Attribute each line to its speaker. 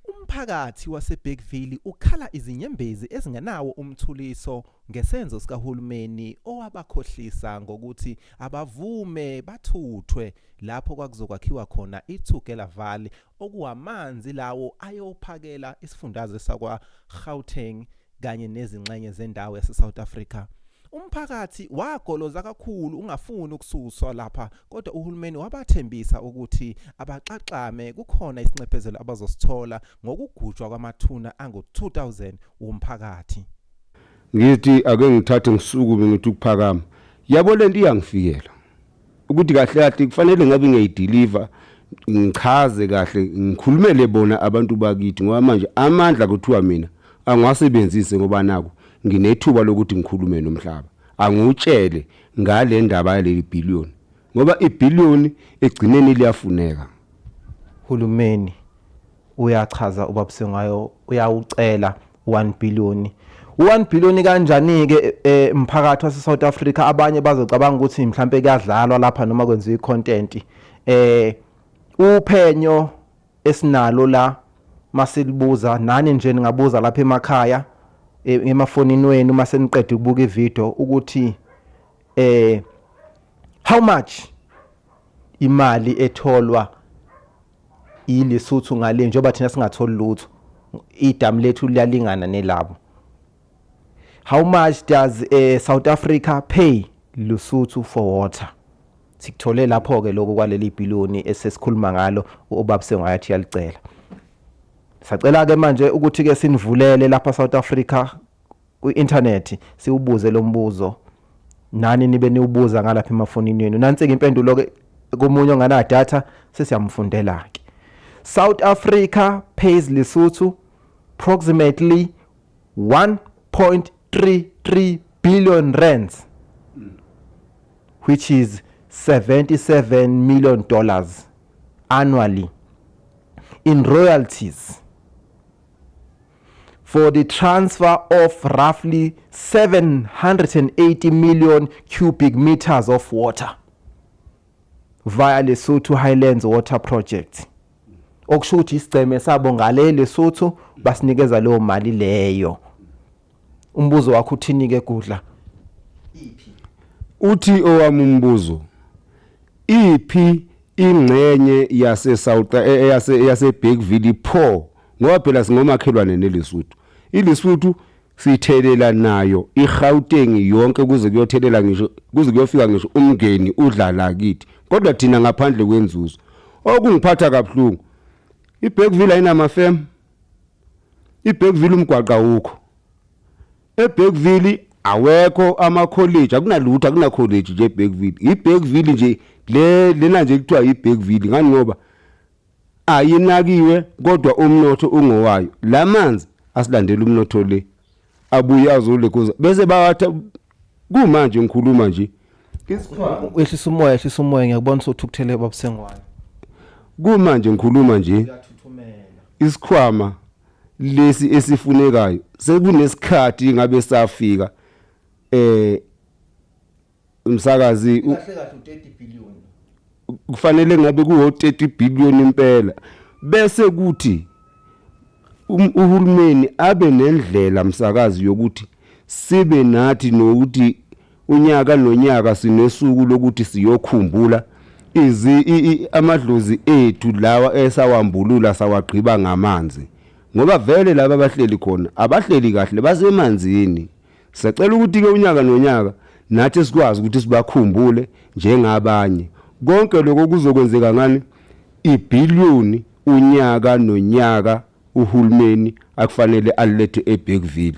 Speaker 1: Umphakathi waseBergville ukhala izinyembezi ezingenawo umthuliso ngesenzo sikahulumeni owabakhohlisa ngokuthi abavume bathuthwe lapho kwakuzokwakhiwa khona iTugela Valley okuwamanzi lawo ayophakela isifundazwe sakwaGauteng kanye nezingxenye zendawo yaseSouth Africa. Umphakathi wagoloza kakhulu ungafuni ukususwa lapha kodwa uhulumeni wabathembisa ukuthi abaxaxame kukhona isinxephezelo abazosithola ngokugujwa kwamathuna angu-2000 womphakathi. Ngithi
Speaker 2: ake ngithathe ngisukume ngithi ukuphakama. Yabo lento iyangifikela. ukuthi kahle kahle kufanele ngabe ngiyayideliver ngichaze kahle ngikhulumele bona abantu bakithi ngoba manje amandla kuthiwa mina angiwasebenzise ngoba naku nginethuba lokuthi ngikhulume nomhlaba angutshele ngale ndaba yaleli billion ngoba ibillion egcineni liyafuneka
Speaker 1: hulumeni uyachaza ubabuse ngayo uyawucela 1 billion. U-1 billion kanjani-ke eh, mphakathi wase-South Africa abanye bazocabanga ukuthi mhlampe kuyadlalwa lapha noma kwenziwa i-content. Eh uphenyo esinalo la masilibuza nani nje ningabuza lapha emakhaya e, emafonini wenu uma seniqeda ukubuka ivideo ukuthi eh how much imali etholwa ILesotho ngale njengoba thina singatholi lutho idamu lethu liyalingana nelabo. How much does uh, South Africa pay Lesotho for water? Sikuthole lapho ke lokho kwaleli billion esesikhuluma ngalo ubaba sengayathi yalicela. Sacela ke manje ukuthi ke sinivulele lapha South Africa kwi-inthanethi siwubuze lo mbuzo nani nibe niwubuza ngalapha emafonini yenu nansi-ke impendulo-ke komunye onganadatha sesiyamfundela-ke south africa pays lesotho approximately 1.33 billion rands which is 77 million dollars annually in royalties for the transfer of roughly 780 million cubic meters of water via Lesotho Highlands Water Project okusho ukuthi isigceme sabo ngale Lesotho basinikeza leyo mali leyo umbuzo wakho uthini ke gudla
Speaker 2: iphi uthi owami umbuzo iphi ingxenye yase South eh, eh, yase yase Bergville pho ngoba phela singomakhelwane neLesotho iLesotho sithelela nayo iGauteng yonke kuze kuyothelela ngisho kuze kuyofika ngisho umngeni udlala kithi kodwa thina ngaphandle kwenzuzo okungiphatha kabuhlungu iBergville ayinama firm iBergville umgwaqa wukho eBergville awekho ama college akunalutho akuna college nje eBergville iBergville nje le lena nje kuthiwa iBergville ngani ngoba ayinakiwe kodwa umnotho ungowayo la manzi asilandela umnotho le abuye azolekoza bese bawatha kumanje ngikhuluma nje isikhwama
Speaker 1: ehlisa umoya ehlisa umoya ngiyakubona sothukuthele babusengwayo kumanje
Speaker 2: ngikhuluma nje isikhwama lesi esifunekayo sekunesikhathi ngabe safika eh umsakazi u- kahle
Speaker 1: kahle u-30 billion kufanele
Speaker 2: ngabe kuwo-30 billion impela bese kuthi um- uhulumeni abe nendlela msakazi yokuthi sibe nathi nokuthi unyaka nonyaka sinesuku lokuthi siyokhumbula izi i- i- amadlozi ethu lawa esawambulula sawagqiba ngamanzi ngoba vele laba abahleli khona abahleli kahle basemanzini Sacela ukuthi-ke unyaka nonyaka nathi sikwazi ukuthi sibakhumbule njengabanye. Konke lokho kuzokwenzeka ngani? Ibhiliyoni unyaka nonyaka uhulumeni akufanele alilethe eBergville.